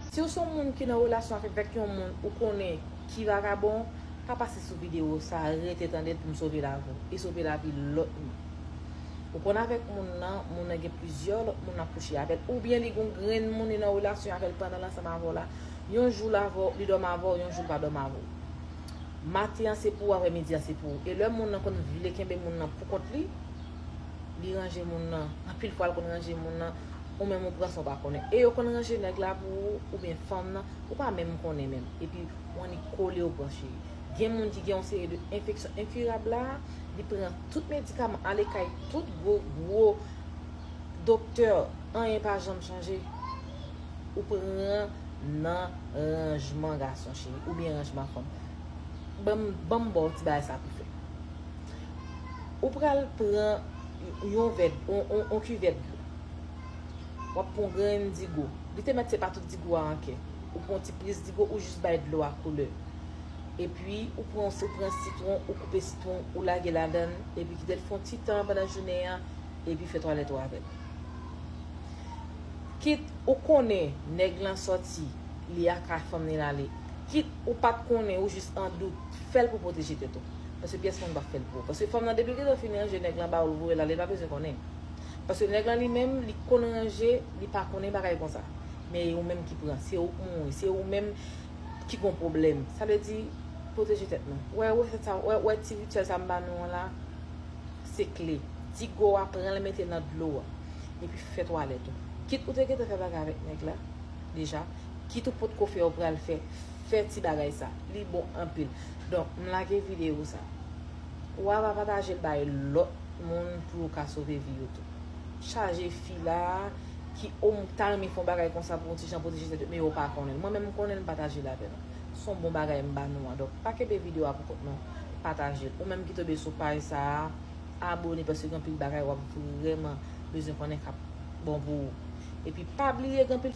Siw son moun ki nan relasyon avèk yon moun ou konnen ki vagabon pa pase sou video sa rete tandel poum sove lavi w e sove lavi lòt moun ou konn avèk moun nan moun nan gen plizyè lòt moun lap kouche avèl oubyen li gon grenn moun li nan relasyon avèl pandanl ansanm avèw la yon jou li dòmi avèw yon jou li pa dòmi avèw maten an se pou ou aprè midi an se pou ou e lè moun nan konn vle kenbe moun nan poukont li li ranje moun nan anpil fwa l konn ranje moun nan. ou menm ou pran san w pa konnen e yo konn ranje nèg la pou ou oubyen fanm nan ou pa menm konnen menm epi ou annik kole ou pran cheri gen moun ki gen yon seri de enfeksyon enkirab la li pran tout medikaman ale kay tout gwo gwo doktè anyen pa janm chanje ou pran nan ranjman gason cheri oubyen ranjman fanm banm banm baw ti bagay sa pou fè ou pral pran yon vè yon kivèt dlo. Wap pran yon grenn digo. Li te mèt se pa tout digo a anke. Ou pran yon ti plis digo ou jis bay dlo a koule. Epi ou pran si ou pran sitwon ou koupe sitwon ou lage ladann epi kitel fon ti tan pandan jounen an epi fè twalèt ou avèl. Kit ou konnen nèg lan sòti li aka fanm li lale, kit ou pat konnen ou jis an dout, fèl pou pwoteje tèt ou. Paske pyès moun pap fèl pou ou. Paske fanm lan depi li gentan fin ranje nèg lan ba ou l voye l ale li pa bezwen konnen. Paske nèg lan li menm li konn ranje li pa konnen bagay konsa. Men e ou menm ki pran. Se ou k mouri. Se ou menm ki gon pwoblèm. Sa vle di pwoteje tèt nou. Wè resèt sa a. Wè ti rityèl sa a m ba nou an la. Se kle. Ti go a pran l mete nan dlo a. Epi fè twalèt ou. Kit ou te gentan fè bagay avèk nèg la deja. Kit ou potko fè ou pral fè. Fè ti bagay sa. Li bon anpil. Donk m lage videyo sa. Ou a va patajel bay lot moun pou yo ka sove vi yo tou. Chaje fi la ki o m ta renmen fon bagay konsa pou yon ti jan pwoteje tèt yo men yo pa konnen l. Mwen menm m konnen l pataje l avè nou. Son bon bagay m ba nou an. Donk pa kenbe video a pou kont non. Pataje l. Ou menm ki tobe sou paj sa a abone paske gen anpil bagay wap vreman bezwen konnen kap bon pou ou. Epi pa bliye gen anpil.